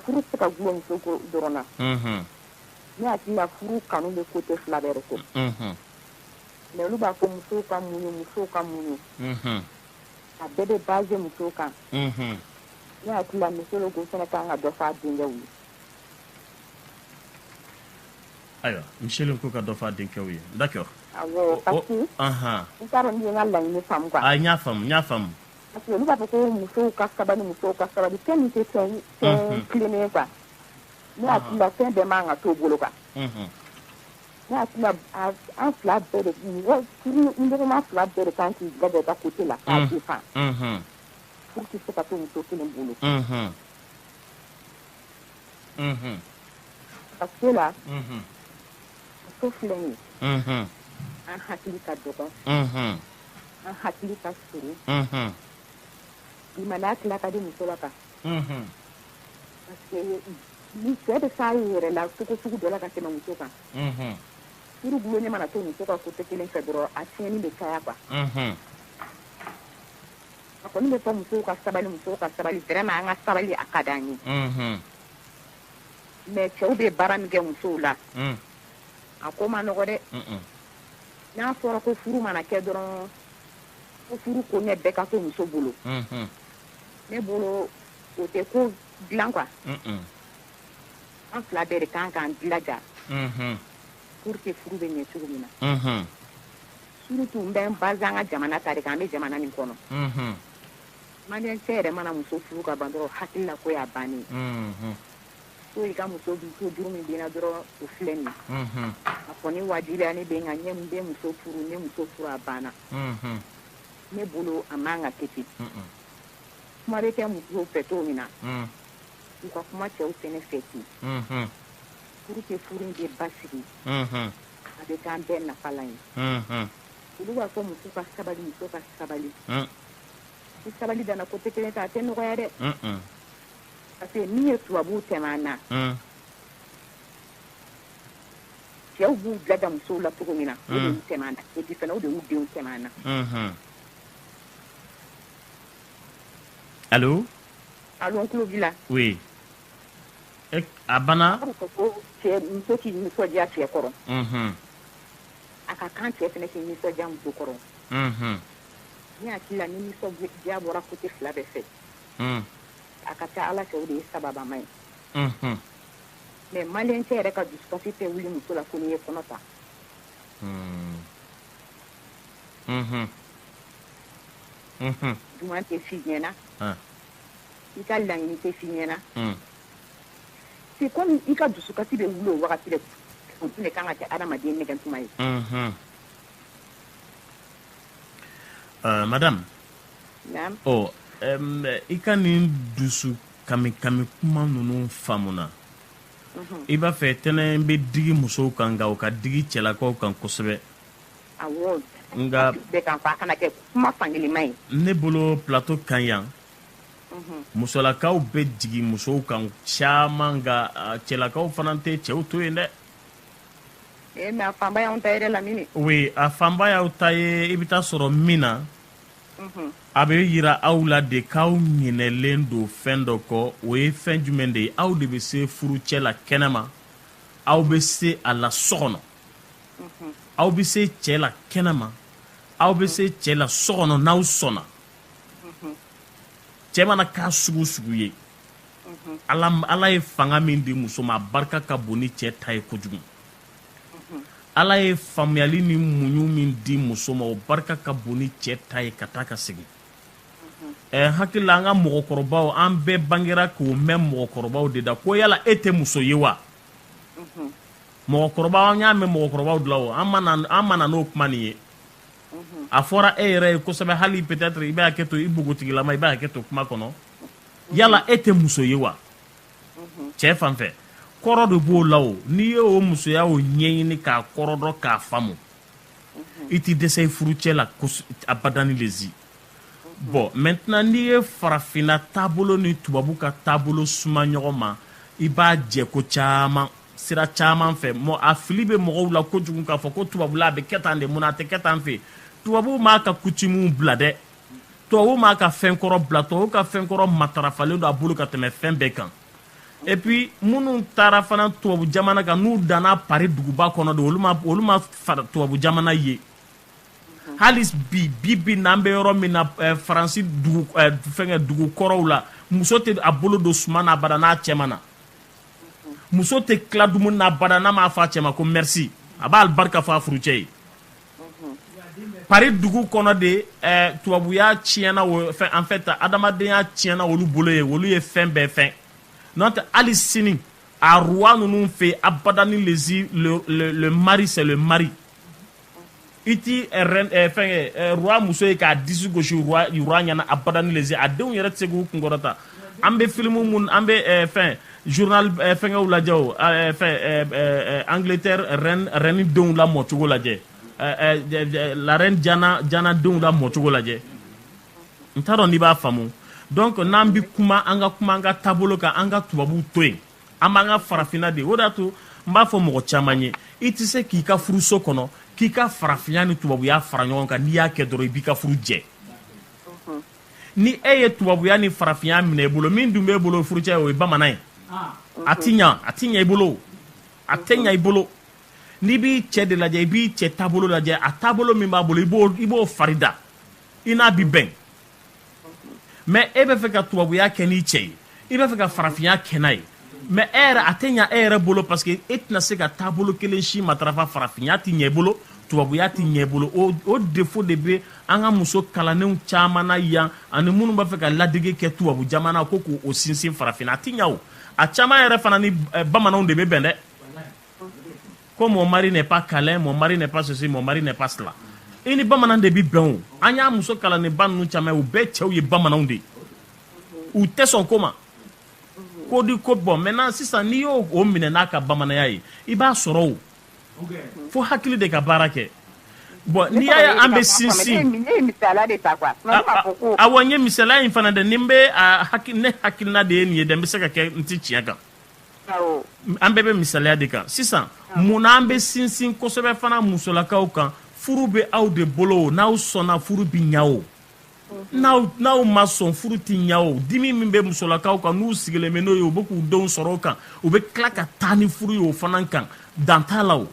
Furu tɛ se ka gulon muso ko dɔrɔn na. Unhun. Ne hakili la furu kanu bɛ coté fila bɛɛ de fɛ. Unhun. Mais olu b'a fɔ musow ka muɲun, musow ka muɲun. Unhun. A bɛɛ bɛ baser musow kan. Unhun. Ne hakili la muso de tun fana ka kan ka dɔ fɔ a denkɛw ye. Ayiwa muso de tun ka kan ka dɔ fɔ a denkɛw ye d'accord. Awɔ parce que. Anhan. N t'a dɔn n'i ye n ka laɲini faamu quoi. Ayi n y'a faamu, n y'a faamu. Parce que olu b'a fɔ ko musow ka sabali musow ka sabali fɛn min tɛ fɛn Unhun. tilennen ye quoi ne hakili la fɛn bɛɛ man ka t'o bolo quoi Unhun. ne hakili la a- an fila bɛɛ de mɔgɔ furuɲɔgɔnma fila bɛɛ de kan k'i bɛɛ bɛɛ ka côté la k'a Mm. défend Unhun. furu tɛ se ka to muso kelen bolo Unhun. Unhun. parce que la Unhun. muso filɛ nin ye unhun an hakili ka dɔgɔn unhun an hakili ka surun unhun limaniya tila ka di muso la quoi unhun parce que ni cɛ bɛ s'a yɛrɛ la cogo sugu dɔ la ka tɛmɛ muso kan unhun furu gulonlen mana to muso ka côté kelen fɛ dɔrɔn a tiɲɛni bɛ caya quoi unhun a kɔni bɛ fɔ musow ka sabali musow ka sabali vraiment an ka sabali a ka d'an ye unhun mais cɛw bɛ baara min kɛ musow la mm. a ko man nɔgɔn dɛ n'a fɔra ko furu mana kɛ dɔrɔn ko furu koɲɛ bɛɛ ka to muso bolo mm-hmm. ne bolo o tɛ ko dilan quoi an fila bɛɛ de kan k'an dilaja mm-hmm. pour que furu bɛ ɲɛ cogo min na mm-hmm. surtout n bɛ n base an ka jamana ta de kan an bɛ jamana min kɔnɔ Malien cɛ yɛrɛ mana muso furu ka ban dɔrɔn hakili la ko y'a bannen so i ka muso bi so juru min bɛ n na dɔrɔn o filɛ nin ye a kɔni wajibiyalen bɛ n kan n bɛ muso furu n ye muso furu a banna ne bolo a man ka kɛ ten kuma bɛ kɛ muso fɛ cogo min na u ka kuma cɛw fɛnɛ fɛ ten pour que furu in bɛ basigi a bɛ k'an bɛɛ nafalan ye olu b'a fɔ muso ka sabali muso ka sabali Ni sabali danna côté kelen ta a tɛ nɔgɔya dɛ parce que min ye tubabuw tɛmɛ an na cɛw b'u dilaja musow la cogo min na o de y'u tɛmɛ an na et puis fɛnɛ o de y'u denw tɛmɛ an na allô an tulo b'i la a banna muso k'i nisɔndiya cɛ kɔrɔ a ka kan cɛ fɛnɛ k'i nisɔndiya muso kɔrɔ Ne hakili la ni nisɔndiya bɔra côté 2 bɛɛ fɛ, un, a ka ca Ala fɛ o de ye sababama ye, unhun, mais maliyɛn cɛ yɛrɛ ka dusukasi tɛ wuli muso la fo n'i ye kɔnɔ ta, un, unhun, unhun, duman tɛ f'i ɲɛna, an, i ka laɲini tɛ f'i ɲɛna, un, c'est comme i ka dusukasi bɛ wuli o wagati de, o tun de ka kan ka kɛ adamaden nɛgɛntuma ye, unhun. Euh, madame oh, euh, i ka nin dusu kami kami kuma ninnu faamuna mhm. i b'a fɛ ten ne bɛ digi musow kan nka o ka digi cɛlakaw kan kosɛbɛ nka ne bolo plateau kan yan mhm. musolakaw bɛ jigin musow kan caman nka cɛlakaw fana tɛ cɛw to yen dɛ Ee mais a fanba y'anw ta ye dɛ Lamini oui a fanba y'aw ta ye i bɛ taa sɔrɔ min na unhun a bɛ yira aw la de k'aw ɲinɛlen don fɛn dɔ kɔ o ye fɛn jumɛn de ye aw de bɛ se furucɛ la kɛnɛma aw bɛ se a la so kɔnɔ unhun aw bɛ se cɛ la kɛnɛma aw bɛ se cɛ la so kɔnɔ n'aw sɔnna unhun cɛ mana k'a sugu o sugu ye ala ye fanga min di muso ma a barika ka bon ni cɛ ta ye kojugu ala ye faamuyali ni muɲu min di muso ma o barika ka bon ni cɛ ta ye ka taa ka segin ne hakili la an ka mɔgɔkɔrɔbaw an bɛɛ bangera k'o mɛn mɔgɔkɔrɔbaw de da ko yala e tɛ muso ye wa mɔgɔkɔrɔba an y'a mɛn mɔgɔkɔrɔbaw de la o an ma na n'o kuma nin ye a fɔra e yɛrɛ ye kosɛbɛ hali peut-être i bɛ hakɛ to i npogotigilama i bɛ hakɛ to kuma kɔnɔ yala e tɛ muso ye wa cɛ fan fɛ kɔrɔ de b'o la o n'i ye o musoya o ɲɛɲini k'a kɔrɔ dɔn k'a faamu i tɛ dɛsɛ i furucɛ la abadani le zi bon maintenant n'i ye farafinna taabolo ni tubabu ka taabolo suma ɲɔgɔn ma i b'a jɛ ko caman sira caman fɛ mɔ a fili bɛ mɔgɔw la kojugu k'a fɔ ko tubabula a bɛ kɛ tan de mun na a tɛ kɛ tan fɛ tubabu m'a ka coutume bila dɛ tubabu m'a ka fɛn kɔrɔ bila tubabu ka fɛn kɔrɔ matarafalen don a bolo ka tɛmɛ fɛn bɛɛ kan et puis minnu taara fana tubabu jamana kan n'u danna Paris duguba kɔnɔ don olu ma olu ma fara tubabu jamana ye hali bi bi bi na an bɛ yɔrɔ min na eh, faransi dugu eh, fɛngɛ dugu kɔrɔw la muso tɛ a bolo don suma na abada n'a cɛ ma na muso tɛ tila dumuni na abada n'a m'a fɔ a cɛ ma ko merci a b'alibarika fɔ a furucɛ ye paris dugu kɔnɔ de tubabuya tiɲɛna en fait adamadenya tiɲɛna olu bolo ye olu ye fɛn bɛɛ fɛn n'o tɛ hali sini a roi ninnu fɛ abada ni lezi le mari c'est le mari i tɛ fɛn roi muso ye k'a disi gosi roi ɲɛna abada ni lezi a denw yɛrɛ tɛ se k'u kun kɔrɔta an bɛ filimu mun an bɛ eh, fɛn journal eh, fɛngɛw lajɛ o eh, fɛn angleterre reine denw lamɔcogo lajɛ la reine diana denw lamɔcogo lajɛ n t'a dɔn n'i b'a faamu donc n'an bɛ kuma an ka kuma an ka taabolo kan an ka tubabuw to yen an b'an ka farafinna de o de y'a to n b'a fɔ mɔgɔ caman ye i tɛ se k'i ka furuso kɔnɔ k'i ka farafinya ni tubabuya fara ɲɔgɔn kan n'i y'a kɛ dɔrɔn i b'i ka furu jɛ ni e ye tubabuya ni farafinya minɛ i bolo min dun b'e bolo furucɛ o ye bamanan ye a ti ɲa a ti ɲa i bolo a tɛ ɲa i bolo n'i b'i cɛ de lajɛ i b'i cɛ taabolo lajɛ a taabolo min b'a bolo i b'o i b'o farida i n'a bi bɛn mais e bɛ fɛ ka tubabuya kɛ n'i cɛ ye i b'a fɛ ka farafinya kɛ n'a ye mais e yɛrɛ a tɛ ɲa e yɛrɛ bolo parce que e tɛna se ka taabolo kelen si matarafa farafinya tɛ ɲɛ i bolo tubabuya tɛ ɲɛ i bolo o défaut de bɛ an ka muso kalannenw caman na yan ani minnu b'a fɛ ka ladege kɛ tubabu jamana ko k'o sinsin farafinna a tɛ ɲa o a caman yɛrɛ fana ni eh, bamananw de bɛ bɛn dɛ ko mon mari n'est pas câlin mon mari n'est pas ceci mon mari n'est pas cela i ni bamanan de bɛ bɛn o an y'a muso kalannenba ninnu caman ye u bɛɛ cɛw ye bamananw de ye u tɛ sɔn ko ma ko di ko bon maintenant sisan n'i y'o minɛ n'a ka bamananya ye i b'a sɔrɔ o fo hakili de ka baara kɛ bon n'i y'a ye an bɛ sinsin awa n ye misaliya in fana dɛ ni n bɛ ne hakilina de ye nin ye dɛ n bɛ se ka kɛ n tɛ tiɲɛ kan an bɛɛ bɛ misaliya de kan sisan munna an bɛ sinsin kosɛbɛ fana musolakaw kan furu bɛ aw de bolo n'aw sɔnna furu bɛ ɲa o n'aw ma sɔn furu tɛ ɲa o dimi min bɛ musolakaw kan n'u sigilen bɛ n'o ye u bɛ k'u denw sɔrɔ o kan u bɛ tila ka taa ni furu ye o fana kan dan t'a la o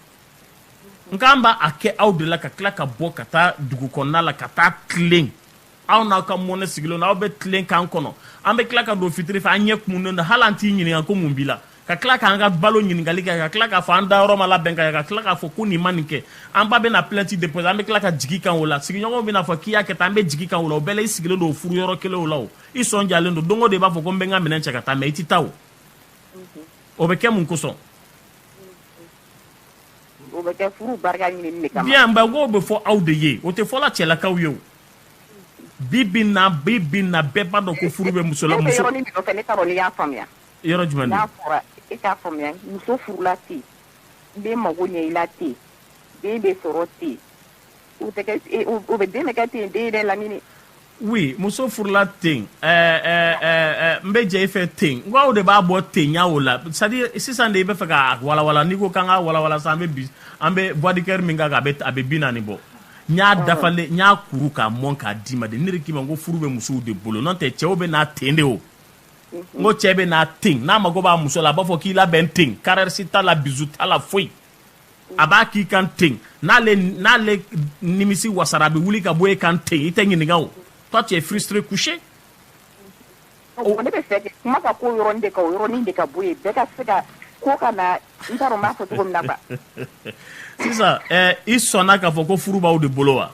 nka an b'a kɛ aw de la ka tila ka bɔ ka taa dugu kɔnɔna la ka taa tilen aw n'aw ka mɔnɛ sigilen don aw bɛ tilen k'an kɔnɔ an bɛ tila ka don fitiri fɛ an ɲɛ kumunen don hali an t'i ɲininka ko mun b'i la ka tila k'an ka balo ɲininkali kɛ ka tila k'a fɔ an dayɔrɔ ma labɛn ka ka tila k'a fɔ ko nin ma nin kɛ an ba bɛna plainte déposer an bɛ tila ka jigin i kan o la sigiɲɔgɔnw bɛna fɔ k'i y'a kɛ tan an bɛ jigin i kan o la o bɛɛ la i sigilen don o furu yɔrɔ kelen o la o i sɔn jalen don don o don i b'a fɔ ko n bɛ n ka minɛn cɛ ka taa mais i tɛ taa o o bɛ kɛ mun kosɔn o bɛ kɛ furu barika ɲinini de kama bien ba k'o bɛ fɔ aw de ye o tɛ fɔla cɛlakaw ye o bi bi in na bi bi in na bɛɛ b'a dɔn ko furu bɛ muso la muso ne bɛ yɔrɔnin min nɔfɛ ne t'a dɔn n'i y'a faamuya yɔrɔ jumɛn na? N'a fɔra e k'a faamuya muso furula ten den mago ɲɛ i la ten den bɛ sɔrɔ ten o tɛ kɛ e, o bɛ den bɛ kɛ ten den yɛrɛ lamini. oui muso furula ten ɛɛ ɛɛ ɛɛ n bɛ jɛ i fɛ ten n ko aw de b'a bɔ ten ya o la c'est à dire sisan de i bɛ fɛ k'a walawala n'i ko k'an k'a walawala sisan an bɛ bi an bɛ bois de coeur min kan a bɛ a bɛ bi naani bɔ. n y'a dafalen n y'a kuru k'a mɔn k'a d'i ma de ne de k'i ma n ko furu bɛ musow de bolo n'o tɛ cɛw bɛ na ten de o. n ko cɛ bɛ na ten n'a mago b'a muso la a b'a fɔ k'i labɛn ten caresse t'a la bisou t'a la foyi a b'a k'i kan ten n'ale n'ale nimisi wasara a bɛ wuli ka bɔ e kan ten i tɛ ɲininka o toi tu es frustré couché oh, ne bɛ fɛ kuma ka k'o yɔrɔnin de kan o yɔrɔnin de ka bɔ yen bɛɛ ka se ka ko ka na n t'a dɔn n b'a fɔ cogo min na quoi sisan eh, i sɔnna k'a fɔ ko furu b'aw de bolo wa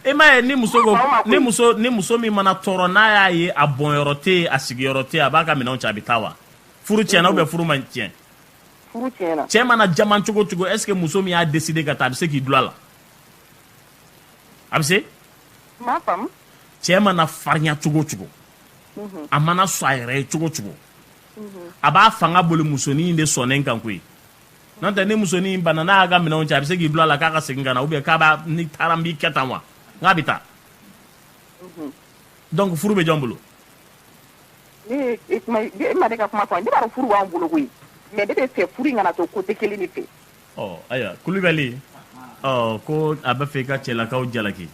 e m'a ye ni muso ni muso ni muso min mana tɔɔrɔ n'a y'a ye a bɔnyɔrɔ tɛ a sigiyɔrɔ tɛ a b'a ka minɛnw cɛ a bɛ taa wa furu tiɲɛna ou bien furu ma tiɲɛ cɛ mana jaman cogo cogo est ce que muso min y'a décider ka taa a bɛ se k'i dulon a la a bɛ se cɛ mana farinya cogo cogo mhm. a mana sɔn a yɛrɛ ye cogo cogo mhm. a b'a fanga boli musonin in de sɔnnen kan koyi n'o tɛ ni musonin in bana n'a y'a ka minɛnw cɛ a bɛ se k'i dulon a la k'a ka segin ka na ou bien k'a b'a n'i taara n b'i kɛ tan wa n k'a bɛ taa donc furu bɛ jɔn bolo ne e kuma e ma ne ka kuma fɔ ne b'a dɔn furu b'an bolo koyi mais ne bɛ fɛ furu in kana to côté kelen de fɛ ɔ oh, ayiwa kulubali ɔ oh, ko a bɛ fɛ i ka cɛlakaw jalaki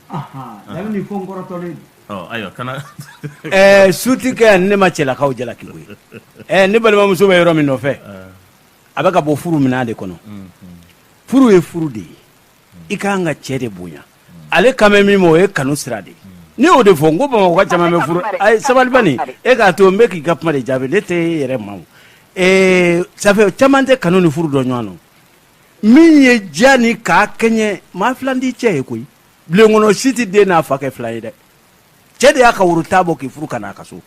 dabi nin fɔ n kɔrɔtɔlen ɔ oh, ayiwa kana ɛɛ eh, suti kɛ ne ma cɛlakaw jalaki koyi ɛɛ eh, ne balimamuso bɛ yɔrɔ min nɔfɛ eh. a bɛ ka bɔ furu minɛ de kɔnɔ furu ye furu de ye i ka kan ka cɛ de bonya ale kan bɛ min ma o ye kanu sira de ne y'o de fɔ n ko bamakɔka caman bɛ furu a ye sabali e k'a to n bɛ k'i ka kuma de jaabi ne tɛ e yɛrɛ ma ça fait caman tɛ kanu ni furu dɔn ɲɔgɔn na min ye diya ni k'a kɛɲɛ maa fila de cɛ ye koyi bulon kɔnɔ si tɛ den n'a fa kɛ filan ye dɛ cɛ de y'a ka woro tan bɔ k'i furu ka n'a ka so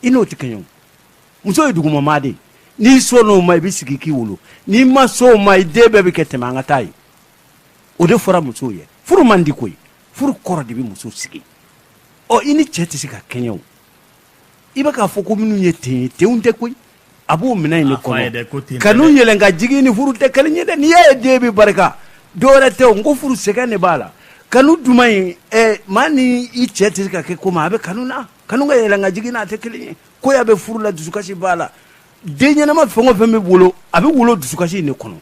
i n'o tɛ kɛɲɛ muso ye duguma maa de n'i sɔnn'o ma i bɛ sigi k'i wolo n'i ma sɔn o ma i den bɛɛ bɛ kɛ tɛmɛ an ka taa ye o de fɔra musow ye furu man di koyi furu kɔrɔ de bɛ muso sigi ɔ i ni cɛ tɛ se ka kɛɲɛ o i bɛ k'a fɔ ko minnu ye ten ye tenw tɛ koyi a b'o minɛn in de kɔnɔ kanu yɛlɛn ka jigin ni furu tɛ kelen ye dɛ n'i y'a ye den bɛ barika dɔwɛrɛ tɛ o n ko furu sɛgɛn de b'a la kanu duman in maa ni i cɛ tɛ se ka kɛ ko ma a bɛ kanu na kanu ka yɛlɛn ka jigin n'a tɛ kelen ye koya bɛ furu la dusukasi b'a la den ɲɛnama fɛn o fɛn bɛ wolo a bɛ wolo dusukasi in de kɔnɔ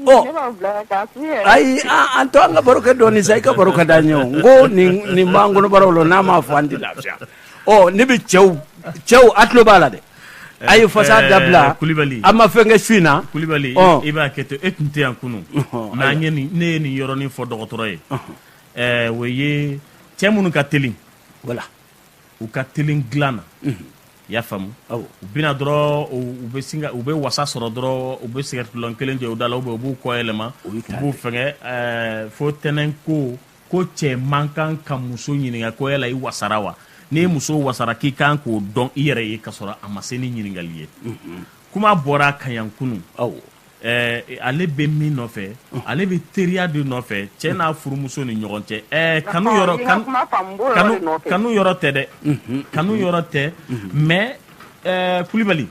ɔ Ne b'a bila ka taa furu yɛrɛ. ayi an an to an ka baro kɛ dɔɔnin sa i ka baro ka d'an ye o n ko nin nin b'an kɔnɔbaraw la n'a m'a fɔ an tɛ lafiya ɔ ne bɛ cɛw cɛw a tulo b'a la dɛ a ye fasa Eh, dabila Kulibali. a ma fɛn kɛ su in na kulibali Ɔ. i b'a kɛ to e tun tɛ yan kunu Ɔhɔn, mais n ye nin- ne ye nin yɔrɔnin fɔ dɔgɔtɔrɔ ye Eh, o ye cɛ minnu ka teli voilà u ka teli dilan na i y'a faamu u bɛ na dɔrɔn u bɛ wasa sɔrɔ dɔrɔn u bɛ sigarɛti kelen jɔ u da la u u b'u kɔ yɛlɛma u b'u fɛnkɛ fo tɛnɛn ko ko cɛ man kan ka muso ɲininka ko yala i wasara wa n'i muso wasara k'i kan k'o dɔn i yɛrɛ ye ka sɔrɔ a ma se ni ɲininkali ye kuma bɔra a kan yan kunun aw Ɛɛ ale bɛ min nɔfɛ ale bɛ teriya de nɔfɛ cɛ n'a furumuso ni ɲɔgɔn cɛ ɛɛ kanu yɔrɔ kanu yɔrɔ tɛ dɛ kanu yɔrɔ tɛ mais ɛɛ Kulibali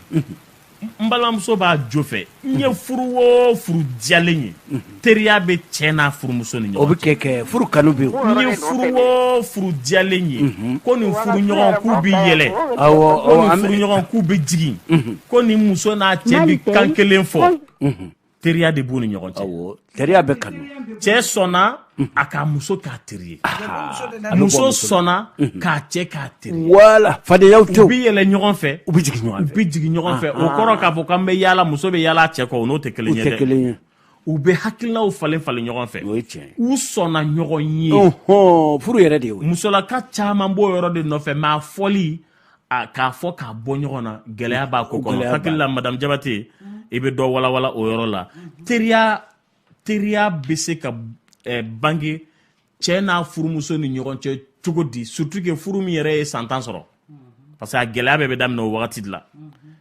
n balimamuso b'a jo fɛ n ye furu o furu diyalen ye teriya bɛ cɛ n'a furumuso ni ɲɔgɔn cɛ o bɛ kɛ furu kanu bɛ yen n ye furu o furu diyalen ye ko nin furuɲɔgɔn k'u bɛ yɛlɛ ko nin furuɲɔgɔn k'u bɛ jigin ko ni muso n'a cɛ bi kan kelen fɔ teriya de b'u ni ɲɔgɔn cɛ teriya bɛ kanu cɛ sɔnna a k'a muso k'a teri ye muso sɔnna k'a cɛ k'a teri ye wala fadenyaw tɛ u bi yɛlɛ ɲɔgɔn fɛ u bi jigin ɲɔgɔn fɛ u bi jigin ɲɔgɔn fɛ o kɔrɔ k'a fɔ k'an bɛ yaala muso bɛ yaala cɛ kɔ o n'o tɛ kelen ye dɛ u bɛ hakilinaw falen falen ɲɔgɔn fɛ o ye tiɲɛ ye u sɔnna ɲɔgɔn ye furu yɛrɛ de ye musolaka caman b'o yɔrɔ de nɔfɛ mais a fɔli k'a fɔ k'a bɔ ɲɔgɔn na gɛlɛya b'a ko kɔnɔ hakili la madamu Jabate mm-hmm. i bɛ dɔ walawala o yɔrɔ la mm-hmm. teriya teriya bɛ se ka eh, bange cɛ n'a furumuso ni ɲɔgɔn cɛ cogo di surtout que furu min yɛrɛ ye san tan sɔrɔ mm-hmm. parce que a gɛlɛya bɛɛ bɛ daminɛ o wagati de la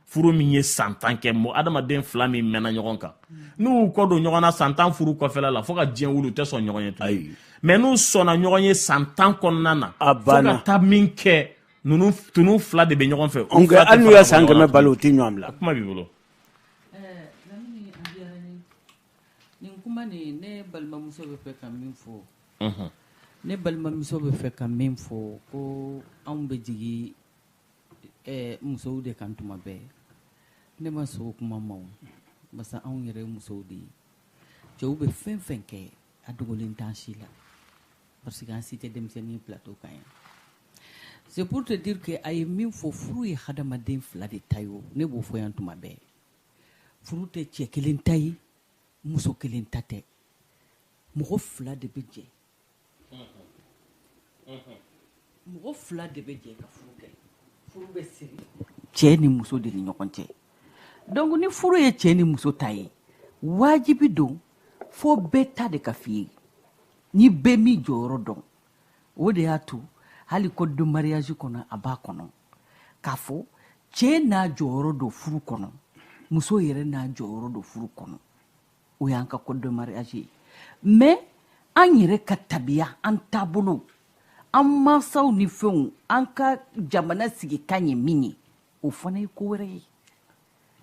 furu min ye san tan kɛ mɔgɔ adamaden fila min mɛnna ɲɔgɔn kan n'u kɔ don ɲɔgɔn na san tan furu kɔfɛla la fo ka diɲɛ wuli u tɛ sɔn ɲɔgɔn ye tuguni mais n'u sɔnna ɲɔgɔn ye san tan kɔnɔna na fo ka taa min kɛ ninnu f- tunu fila de bɛ ɲɔgɔn fɛ U fila tɛ hali n'u fara ye san ɲɔgɔn kɛmɛ kan. balo u tɛ ɲɔgɔn bila kuma b'i bolo Ɛɛ, Lamini, a diyara n ye. Nin kuma nin ne balimamuso bɛ fɛ ka min fɔ Unhun. ne balimamuso bɛ fɛ ka min fɔ ko anw bɛ jigin ɛɛ, musow de kan tuma bɛɛ ne ma sɔn o kuma ma o basa anw yɛrɛ ye musow de ye cɛw bɛ fɛn fɛn kɛ a dogolen t'an si la parce que an si tɛ denmisɛnnin plateau kan yan c'est pour te dire que a ye min fɔ furu ye hadamaden fila de ta ye o ne b'o fɔ yan tuma bɛɛ furu tɛ cɛ kelen ta ye muso kelen ta tɛ mɔgɔ fila de bɛ jɛ mɔgɔ fila de bɛ jɛ ka furu kɛ furu bɛ siri cɛ ni muso de ni ɲɔgɔn cɛ donc ni furu ye cɛ ni muso ta ye wajibi don fo bɛɛ ta de ka f'i ye ni bɛɛ m'i jɔyɔrɔ dɔn o de y'a to hali code de mariage kɔnɔ a b'a kɔnɔ k'a fɔ cɛ n'a jɔyɔrɔ don furu kɔnɔ muso yɛrɛ n'a jɔyɔrɔ don furu kɔnɔ o y'an ka code de mariage ye mais an yɛrɛ ka tabiya an taabolo an mansaw ni fɛnw an ka jamana sigikan ye min ye o fana ye ko wɛrɛ ye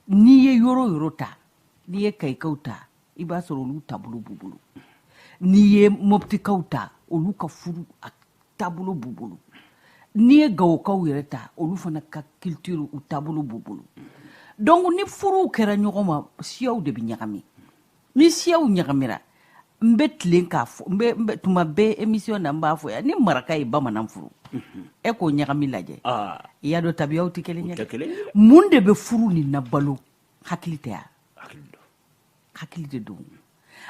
n'i ye yɔrɔ yɔrɔ ta n'i ye kayikaw ta i b'a sɔrɔ olu taabolo b'u bolo n'i ye mɔptikaw ta olu ka furu a taabolo b'u bolo n'i ye gawokaw yɛrɛ ta olu fana ka culture u taabolo b'u bolo donc ni furuw kɛra ɲɔgɔn ma siyaw de bɛ ɲagami ni siyaw ɲagamira n bɛ tilen k'a fɔ n bɛ tuma bɛɛ émission na n b'a fɔ yan ni maraka ye bamanan furu mhm. e k'o ɲagami lajɛ ah. i y'a dɔn tabiyaw tɛ kelen ye mun de bɛ furu nin na balo hakili tɛ yan hakili de don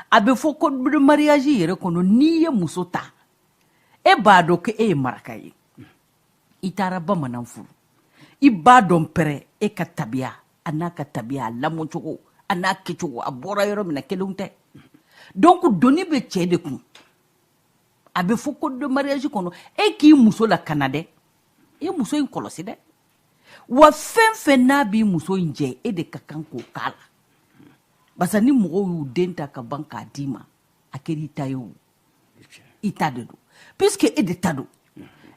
a bɛ fɔ ko mariage yɛrɛ kɔnɔ n'i ye muso ta e b'a dɔn ko e ye maraka ye i taara bamanan furu i b'a dɔn pɛrɛ e ka tabiya a n'a ka tabiya a lamɔcogo a n'a kɛcogo a bɔra yɔrɔ min na kelenw tɛ donc doni bɛ cɛ de kun a bɛ fɔ code de mariage kɔnɔ e k'i muso lakana dɛ i muso in kɔlɔsi dɛ wa fɛn fɛn n'a b'i muso in jɛ e de ka kan k'o k'a la barisa ni mɔgɔw y'u den ta ka ban k'a d'i ma a kɛr'i ta ye o i ta de don puisque e de ta don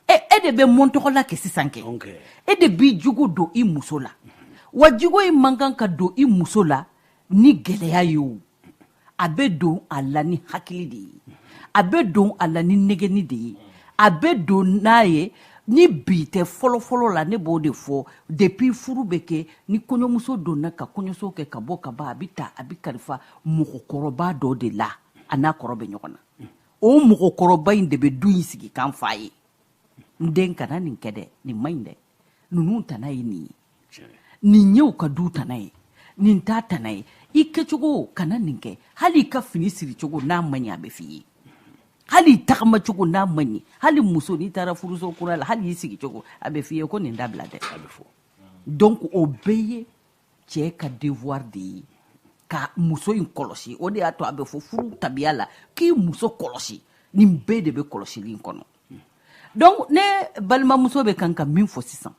e e de bɛ mɔntɔgɔla kɛ sisan kɛ e de b'i jogo don i muso la wa jogo in man kan ka don i muso la ni gɛlɛya ye o a bɛ don a la ni hakili de ye a bɛ don a la ni nɛgɛnni de ye a bɛ don n'a ye ni bi tɛ fɔlɔfɔlɔ la ne b'o de fɔ depuis furu bɛ kɛ ni kɔɲɔmuso donna ka kɔɲɔso kɛ ka bɔ ka ban a bɛ ta a bɛ kalifa mɔgɔkɔrɔba dɔ de la a n'a kɔrɔ bɛ ɲɔgɔn na o mɔgɔkɔrɔba in de bɛ du in sigikan f'a ye n den kana nin kɛ dɛ nin man ɲi dɛ ninnu tana ye nin ye nin ye u ka du tana ye nin t'a tana ye i kɛcogo kana nin kɛ hali i ka fini siricogo n'a man ɲi a bɛ f'i ye hali i tagamacogo n'a man ɲi hali muso n'i taara furuso kura la hali i sigicogo a bɛ f'i ye ko nin dabila dɛ donc o bɛɛ ye cɛ ka devoir de ye ka muso in kɔlɔsi o de y'a to a bɛ fɔ furu tabiya la k'i muso kɔlɔsi nin bɛɛ de bɛ kɔlɔsili in kɔnɔ donc ne balimamuso bɛ kan ka min fɔ sisan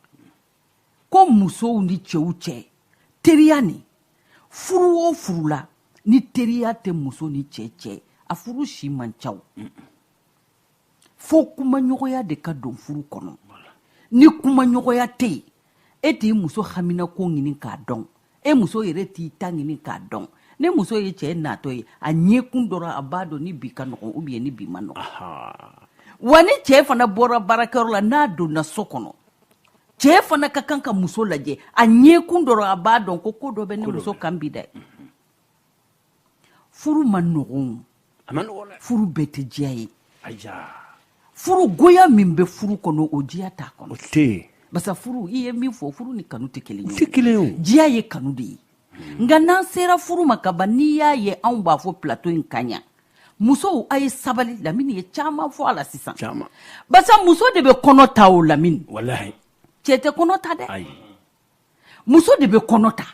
ko musow ni cɛw cɛ teriya nin furu o furu la ni teriya tɛ muso ni cɛ cɛ a furu si man ca o fo kumaɲɔgɔnya de ka don furu kɔnɔ ni kumaɲɔgɔnya tɛ yen e t'i muso haminako ɲini k'a dɔn e muso yɛrɛ t'i ta ɲini k'a dɔn ni muso ye cɛ natɔ ye a ɲɛkun dɔrɔn a b'a dɔn ni bi ka nɔgɔn ou bien ni bi ma nɔgɔn wa ni cɛ fana bɔra baarakɛyɔrɔ la n'a donna so kɔnɔ cɛ fana ka kan ka muso lajɛ a ɲɛkun dɔrɔn a b'a dɔn ko ko dɔ bɛ ne muso kan bi dɛ furu ma nɔgɔn furu bɛɛ tɛ diya ye furu goya min bɛ furu kɔnɔ o diya t'a kɔnɔ basa furu i ye min fɔ furu ni kanu tɛ kelen ye kelen diya ye kanu de ye hmm. nka n'an sera furu ma ka ban n'i y'a ye anw b'a fɔ plateau in kan yan musow a ye sabali lamini ye caman fɔ a la sisan basa muso de bɛ kɔnɔ ta o lamini cɛ tɛ kɔnɔ ta dɛ muso de bɛ kɔnɔ ta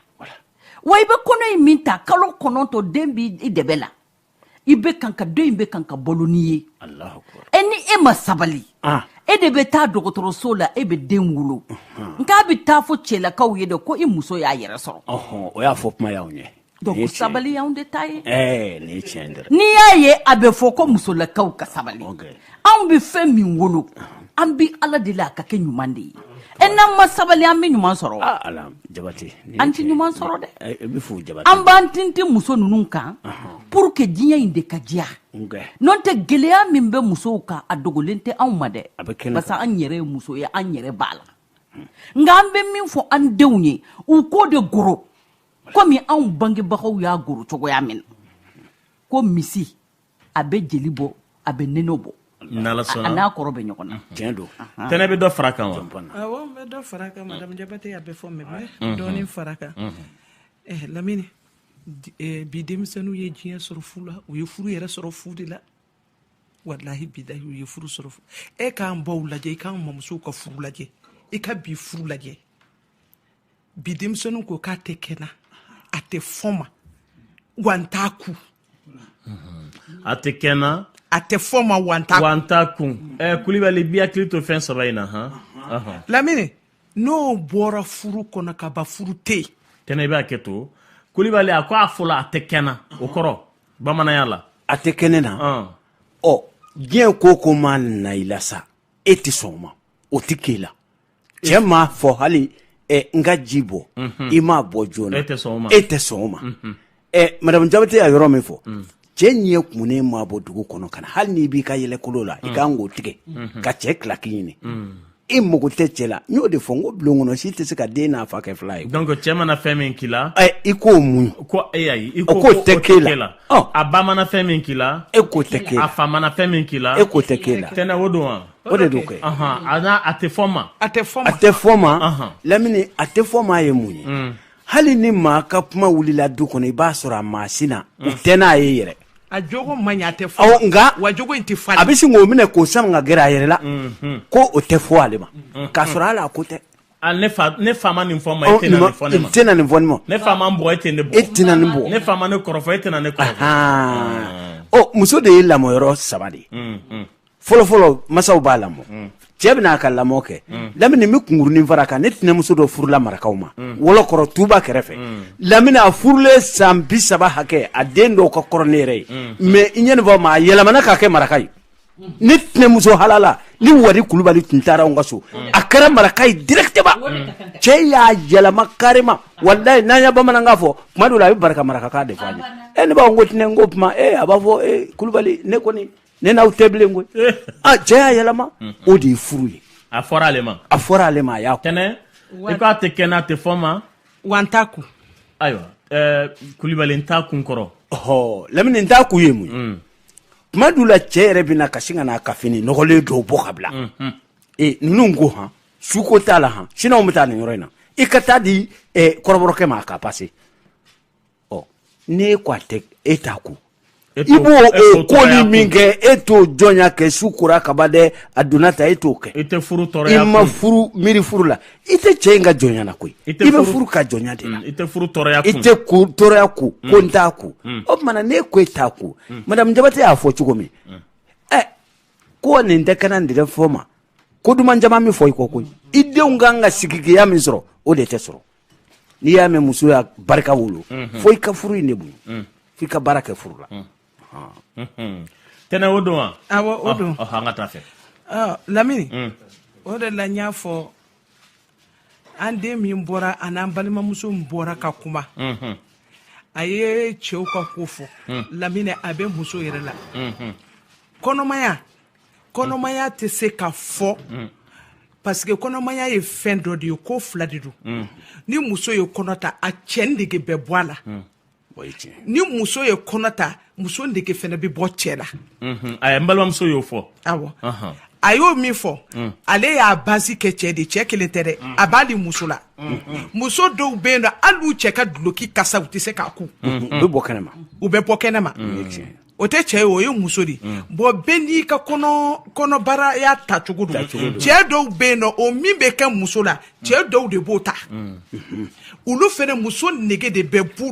wa i bɛ kɔnɔ in min ta kalo kɔnɔntɔ den bɛ i dɛbɛ la i bɛ kan ka den in bɛ kan ka balo n'i ye e ni e ma sabali ah. e de bɛ taa dɔgɔtɔrɔso la e bɛ den wolo nk'a bɛ taa fɔ cɛlakaw ye de ko i muso y'a yɛrɛ sɔrɔ o y'a fɔ kuma y'aw ɲɛ Donc sabali y'anw de ta ye ɛɛ nin ye tiɲɛ dɛ n'i y'a ye a bɛ fɔ ko musolakaw ka sabali anw bɛ fɛn min wolo an bɛ ala deli a ka kɛ ɲuman de ye e n'an ma sabali an bɛ ɲuman sɔrɔ ah, ala jabate an tɛ ɲuman sɔrɔ dɛ eh, i bɛ fo jabate an b'an tintin muso ninnu kan pour que diɲɛ in de ka diya n'o tɛ gɛlɛya min bɛ musow kan a dogolen tɛ anw ma dɛ parce que an yɛrɛ ye muso ye an yɛrɛ b'a la nka an bɛ min fɔ an denw ye u k'o de goro komi anw bangebagaw y'a goro cogoya min na ko misi a bɛ jeli bɔ a bɛ nɔnɔ bɔ a n'a kɔrɔ bɛ ɲɔgɔn na tiɲɛ don tɛnɛ bɛ dɔ fara kan wa awɔ n bɛ dɔ fara kan madame jabate a bɛ fɔ ne bɛ dɔɔnin fara kan eh, lamini eh, bi denmisɛnninw ye diɲɛ sɔrɔ fu la u ye furu yɛrɛ sɔrɔ fu de la walahi bilahi u ye furu sɔrɔ e k'an baw lajɛ i k'an mamusow ka furu lajɛ i ka bi furu lajɛ bi denmisɛnninw ko k'a tɛ kɛ n na a tɛ fɔ n ma wa n t'a kun a tɛ kɛ n na a tɛ fɔ n ma wa n t'a wa n t'a kun ɛ eh, kulibali b'i hakili to fɛn saba in na han lamini n'o bɔra furu kɔnɔ ka ban furu tɛ yen tɛnɛ i bɛ hakɛ to kulibali a ko a fɔlɔ a tɛ kɛ n na o kɔrɔ bamananya la a tɛ kɛ ne na ɔ diɲɛ ko ko ma na i la sa e tɛ sɔn o ma o tɛ k'e la cɛ m'a fɔ hali ɛ n ka ji bɔ i m'a bɔ joona e tɛ sɔn o ma e tɛ sɔn o ma ɛ madamu jabate y'a yɔrɔ min fɔ cɛ ɲɛ kumunen m'a bɔ dugu kɔnɔ ka na hali n'i b'i ka yɛlɛkolo la i kan k'o tigɛ ka cɛ kilaki ɲini e mago tɛ cɛ la n y'o de fɔ n ko bulon kɔnɔ si tɛ se ka den n'a fa kɛ fila ye donc cɛ mana fɛn min k'i la ɛ i k'o muɲu ko e ayi i ko k'o tɛ k'e la. Ɔ. a ba mana fɛn min k'i la e k'o tɛ k'e la a fa mana fɛn min k'i la e k'o tɛ k'e la tɛnɛ o don wa O de don kɛ a tɛ fɔ ma a tɛ a tɛ fɔ ma lamini a tɛ fɔ ma ye mun ye hali ni maa ka kuma wulila du kɔnɔ i b'a sɔrɔ a ma sin a u tɛ n'a ye yɛrɛ a jogo man ɲi a tɛ fɔ nka wa jogo in tɛ falen a bɛ sin k'o minɛ k'o sama ka gɛrɛ a yɛrɛ la ko o tɛ fɔ ale ma k'a sɔrɔ hali a ko tɛ ne fa nin fɔ ma nin fɔ e tɛna nin fɔ ne fa ne e tɛna ne muso de ye lamɔyɔrɔ saba de ye fɔlɔfɔlɔ masaw b'a lamɔ mm. cɛ bɛna a ka lamɔ kɛ mm. lamini bɛ kunkurunin fara kan ne tɛnɛmuso dɔ furula marakaw ma mm. wɔlɔkɔrɔ tuba kɛrɛfɛ lamini a furulen san bi saba hakɛ a den dɔw ka kɔrɔ ne yɛrɛ ye mɛ i ɲɛ nin fɔ ma a yɛlɛmana k'a kɛ maraka ye ne tɛnɛmuso halala ni wari kulubali tun taara n ka so a kɛra maraka ye directement cɛ y'a yɛlɛma carrément walayi n'an ye bamanankan fɔ tuma dɔw la a bɛ bari ka marakakan de fɔ an ye e ne b'a fɔ n ko tɛnɛ n ko kuma e a b'a fɔ e kulubali ne kɔni ne n'aw tɛ bilen koyi eh. a ah, cɛ y'a yɛlɛma mhm. o de ye furu ye a fɔra ale ma a fɔra ale ma a y'a kɛ n'i k'a tɛ kɛ n'a tɛ fɔ ma wa n t'a kun ayiwa eh, kulibali n t'a kun kɔrɔ ɔhɔ lamini n t'a kun ye mun ye mm. tuma dɔw la cɛ yɛrɛ bɛ na ka sin ka n'a ka fini nɔgɔlen dɔw bɔ ka bila mhm. ee ninnu ko han su ko t'a la han sini an bɛ taa nin yɔrɔ in na i ka taa di eh, kɔrɔbɔrɔkɛ ma a ka pase ɔ n'e ko a tɛ e t'a kun i b'o koli min kɛ e t'o jɔnya kɛ su kora kaba dɛ a donna ta e t'o kɛ i tɛ furu tɔɔrɔya i ma furu miiri furu la i tɛ cɛ in ka jɔnya na koyi i bɛ furu ka jɔnya de la mm, i tɛ furu tɔɔrɔya i tɛ ko tɔɔrɔya kun mm. ko n t'a kun mm. o tuma na n'e ko e t'a kun madamu jabate y'a fɔ cogo min ɛ eh, ko nin tɛ kɛ n na nin tɛ fɔ ma ko duman caman min fɔ i kɔ koyi i denw kan ka sigiya min sɔrɔ o de tɛ sɔrɔ n'i y'a mɛn muso y'a barika wolo fo i ka furu in de bonya fo i ka baara kɛ furu la tɛnɛ o don wa awɔ o don an ka taa fɛ lamini o de la n y'a fɔ an den min bɔra ani an balimamuso min bɔra ka kuma a ye cɛw ka ko fɔ lamini a bɛ muso yɛrɛ la kɔnɔmaya kɔnɔmaya tɛ se ka fɔ mm. parce que kɔnɔmaya ye fɛn dɔ de ye ko fila de don mm. ni muso ye kɔnɔ ta a cɛ nege bɛ bɔ a la mm. ni muso ye kɔnɔ ta muso nege fɛnɛ bɛ bɔ cɛ la mm-hmm. a n balimamuso y'o fɔ awɔ uh-huh. a y'o min fɔ ale y'a basi kɛ cɛ de cɛ kelen tɛ dɛ a b'ali muso la mm-hmm. muso dɔw bɛ yen nɔ hali u cɛ ka duloki kasa u tɛ se k'a kun mm-hmm. u bɛ bɔ kɛnɛma o tɛ cɛ ye o ye muso de mm. bon bɛɛ n'i ka kɔnɔbaraya ta cogo don cɛ dɔw bɛ yen nɔ o min bɛ kɛ muso la cɛ mm. dɔw de b'o ta mm. olu fɛnɛ muso nege de bɛ bu